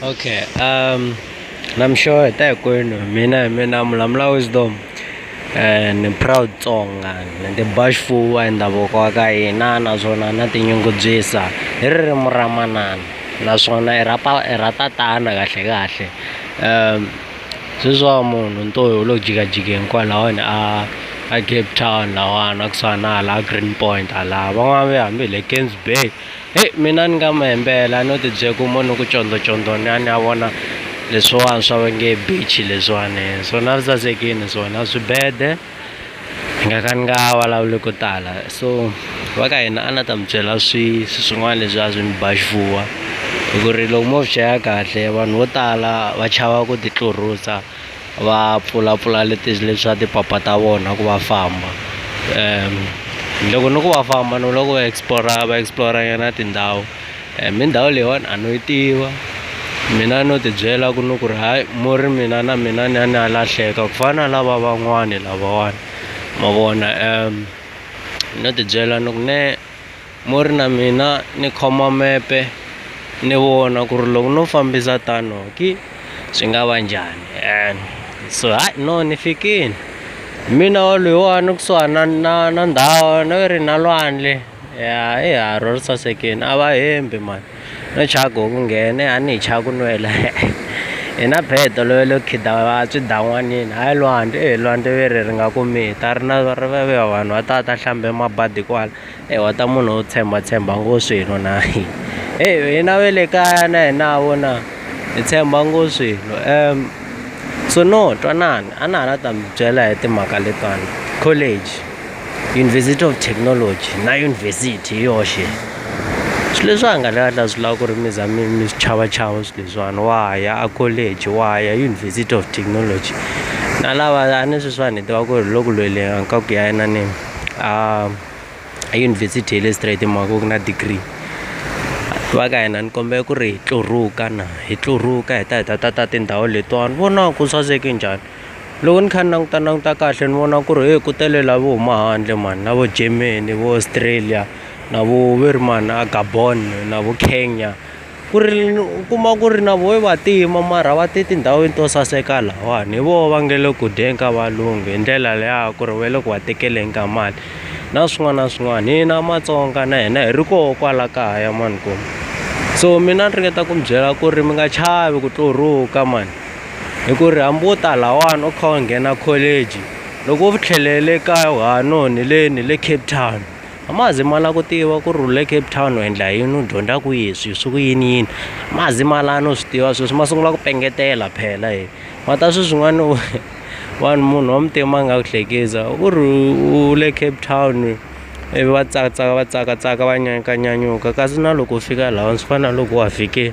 okay um namhlanje tayikwenu mina hi mina mulamula wisdom and eh, proud tsonga nende bashful wa ndhavuko wa ka hina naswona na tinyungubyisa hi ririmi ra manana naswona i ra i ra tatana kahle kahle um sweswiwa munhu ntohi u lo jikajike hinkwalaho ni a a cape town lahawani a kusuhana hala green point hala van'wana ve hambi hi le kensburg Heyi mina ni nga mi hembela no tibyela ku mo ni ku condocondo ni ya ni ya vona leswiwani swa va nge beach leswiwani swona a swi sasekini swona swibede ni nga ka ni nga vulavuli ko tala so va ka hina a ni ta mi byela swi swin'wana leswi a swi ni ba xifuva hi ku ri loko mo swi cheka kahle vanhu vo tala va chava ku ti tlurisa. va pfulapfula leswa tipapa ta vona ku va famba loko ni ku va famba ni vula ku va explore-a va explore-a nyana tindhawu mi ndhawu leyiwani a no yi tiva mina no tibyela ku ni ku ri hayi mo ri mina na mina ni ya ni ya lahleka ku fana na lava van'wani lavawani ma vona no tibyela ni ku mehe. mo ri na mina ni khoma mepe ni vona ku ri loko no fambisa tano ki swi nga va njhani and so hayi no ni fikini hi mina wa loyiwani kusuhana na na ndhawu ni ri na lwandle ya i harhu ri sasekini a va hembi mani no chava ku ku nghene a ni hi chava ku nwela hi na bee tolovele ku khida va swidan'wanini hayi lwandle e lwandle ve ri ri nga ku mi ta ri na vanhu va ta va ta hlambe mabadi kwala. Ewa ta munhu wo tshembatshemba ngo swilo na heyi hina ve le kaya na hina ha vona hi tshemba ngo swilo um so no twanana a na ha la ta mi byela hi timhaka letiwani college university of technology na university hi yoxe swi leswi a nga ta swi lava ku ri mi za mi mi swi chava chava swi leswiwani wa ya a college wa ya university of technology na lava a ni sweswiwani hi tiva ku ri hi le ku lweleni ka ku ya yinanini a. eyunivhesiti ya le straight hi mhaka ku na degree va ka hina ni kombela ku ri hi tluruka na hi tluruka hi ta hi ta ta ta tindhawu letiwani vona ku saseke njhani loko ni kha ni languta languta kahle ni vona ku ri he ku tele la vo huma handle mani na vo Germany vo Australia na vo ve ri mani a Gabon na vo Kenya. Ku ri u kuma ku ri na voho i vantima mara va te tindhawini to saseka lahawani hi voho va nge le ku dyeni ka valungu hi ndlela liya ya ku ri va le ku va tekeleni ka mali na swin'wana na swin'wana. Hina Matsonga na hina hi ri koho kwala kaya mani ku so mina ni ringeta ku mi byela ku ri mi nga chavi ku tluruka mani hi ku ri hambi wo ta lahawani u kha u nghena college loko u tlhelele kaya u ha no ni le ni le Cape Town. a ma zi ma lava ku tiva ku ri u le Cape Town u endla yini u dyondza kwihi swi swi ku yini yini ma zi ma lava no swi tiva sweswi ma sungula ku pengetela phela e ma ta swi swin'wana vanhu munhu wa muntima a nga ku hlekisa u ri u le Cape Town ivi va tsaka tsaka va tsaka tsaka va nyanyuka nyanyuka kasi na loko u fika lahawani swi fana na loko wa fike.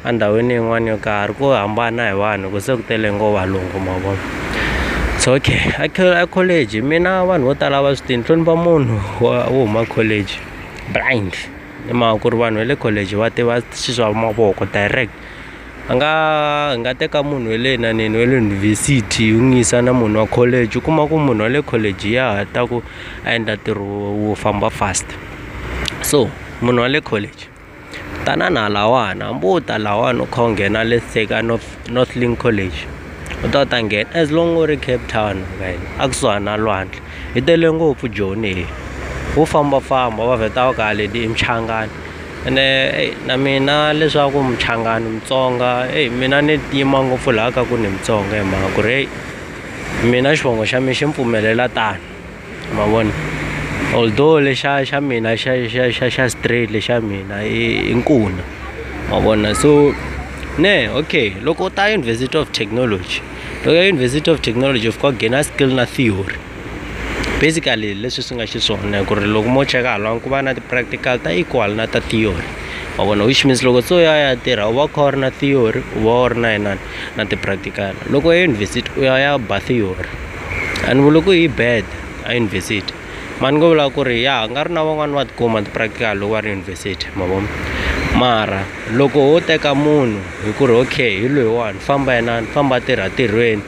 endhawini yin'wana yo karhi ku hambana hi vanhu ku se ku tele ngo valungu ma vona so okay a college mina vanhu vo tala va swi tiva ni hlonipha munhu wa wo huma college blind hi mhaka ku ri vanhu va le college va tiva swi swa mavoko direct a nga hi nga teka munhu wa le inaneni wa le yunivhesiti hi n'wi yisa na munhu wa college u kuma ku munhu wa le college ya ha ta ku a endla ntirho wo famba fast so munhu wa le college. Tanana lahawani hambi wo ta lahawani u kha u nghena le North Northlink College u ta u ta nghena as long u ri Cape Town a kusuhana na lwandle yi tele ngopfu Joni leyi wo fambafamba wa vheta u ka haleni i Muchangani ene na mina leswaku Muchangani Mutsonga eyi mina ni tima ngopfu laha ka ku ni Mutsonga hi mhaka ku ri heyi mina xivongo xa mina xi ni pfumelela tano. ma vona although lexa xa mina xa xa xa xa straight lexa mina i i nkuna ma vona so ne okay loko u ta university of technology loko ya university of technology u fika u gain-a skill na theory basically hi leswi swi nga xiswona hi ku ri loko mo cheka hala ku va na ti-practical ta equal na ta theory ma vona which means loko se u ya u ya tirha u va u kha u ri na theory u va u ri na inana na ti-practical loko ya university u ya u ya ba theory. A ni vuli ku yi bad a yunivhesiti mara ni ngo vula ku ri ya nga ri na van'wani va tikuma ti-practical loko va ri yunivhesiti ma vo mara loko ho teka munhu hi ku ri okay hi loyiwani famba yena ni famba tirha tirhweni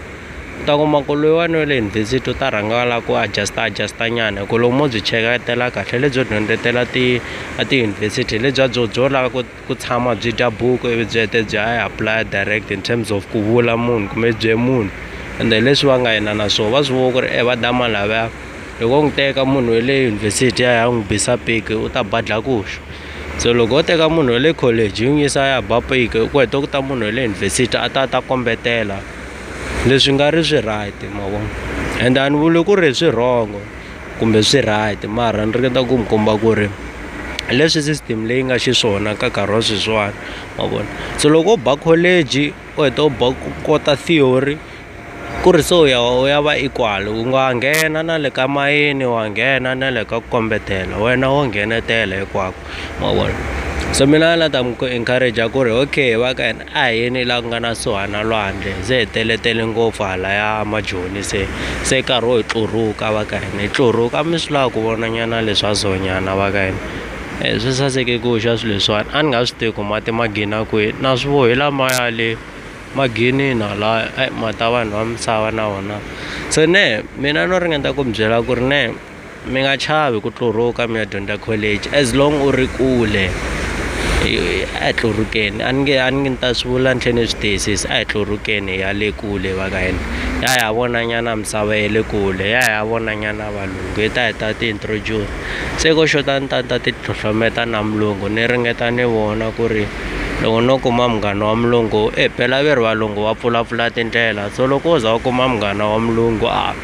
u ta kuma ku loyiwani wa le yunivhesiti u ta rhanga a la ku adjust-a adjust-a nyana hi ku loko mo byi cheketela kahle lebyo dyondzetela ti a tiyunivhesiti hi lebyiya byo byo lava ku ku tshama byi dya buku ivi byi hete bya yi apply direct in terms of ku vula munhu kumbe bye munhu ende hi leswi va nga yena na swona va swi vona ku ri e va dama lavaya loko wo n'wi teka munhu wa le yunivhesiti ya ya n'wi bisa piki u ta badla kuxa so loko wo teka munhu wa le college yi n'wi yisa ya ba piki ku heta ku ta munhu wa le yunivhesiti a ta ta kombetela leswi nga ri swi right ma vona ende a ni vuli ku ri swi wrong-o kumbe swi right mara ni ringeta ku mi komba ku ri hi leswi system leyi nga xiswona ka nkarhi wa sweswiwani ma vona so loko u ba college u heta u ba u kota theory ku ri se u ya u ya va equal u nga nghena na le ka mayini wa nghena na le ka ku kombetela wena wo nghenetela hinkwako ma vona so mina a ni la ta mi ku encourager ku ri okay va ka hina A hi yeni laha ku nga na kusuhani na lwandle, hi ze hi teletele ngopfu halaya majoni se se nkarhi wo hi tluruka va ka hina hi tluruka a mi swi lava ku vonanyana leswa zonyana va ka hina e swi saseke ku xa swilo leswiwani a ni nga swi tivi ku mati ma gina kwihi na swi vo hi lamaya le maginini halaya e mati ya vanhu va misava na wona se mehe mina no ringeta ku mi byela ku ri mehe. Mi nga chavi ku tluruka mi ya dyondza college as long u ri kule hi a hi tlurukeni a ni nge a ni nge ni ta swi vula ni tlhe ni swi tiyisisa a hi tlurukeni hi ya le kule va ka hina hi ya hi ya vona nyana misava ya le kule hi ya hi ya vona nyana valungu hi ta hi ta ti introduce se ko xota ni ta ni ta ti tlhotlhometa na mulungu ni ringeta ni vona ku ri loko no kuma munghana wa mulungu e phela ve ri valungu va pfulapfula tindlela so loko wo za u kuma munghana wa mulungu a.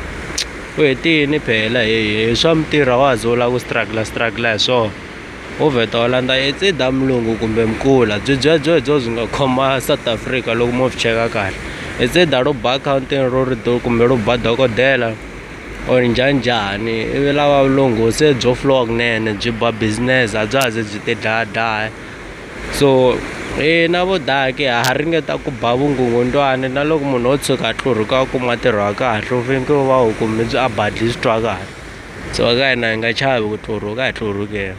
u hetini phela he hi swa mintirho a wa ha ze u lava ku struggle struggle hi swona wo vheta u landza it's either mulungu kumbe mkula byi byebyo hi byo byi nga khoma south africa loko mo byi cheka kahle it's either ro ba accounting ro ri do kumbe ro ba dokodela or njhani njhani ivi lava vulungu se byo flowa kunene byi ba business a bya ha ze byi ti dlaya dlaya. so hina vo daki ha ha ringeta ku ba vungungundzwani na loko munhu o tshuka a tlurhuka a kuma ntirho wa kahle u fanekele u va u kumbe byi a badle swi twa kahle so ka hina hi nga chavi ku tlurhuka a hi tlurhukeni.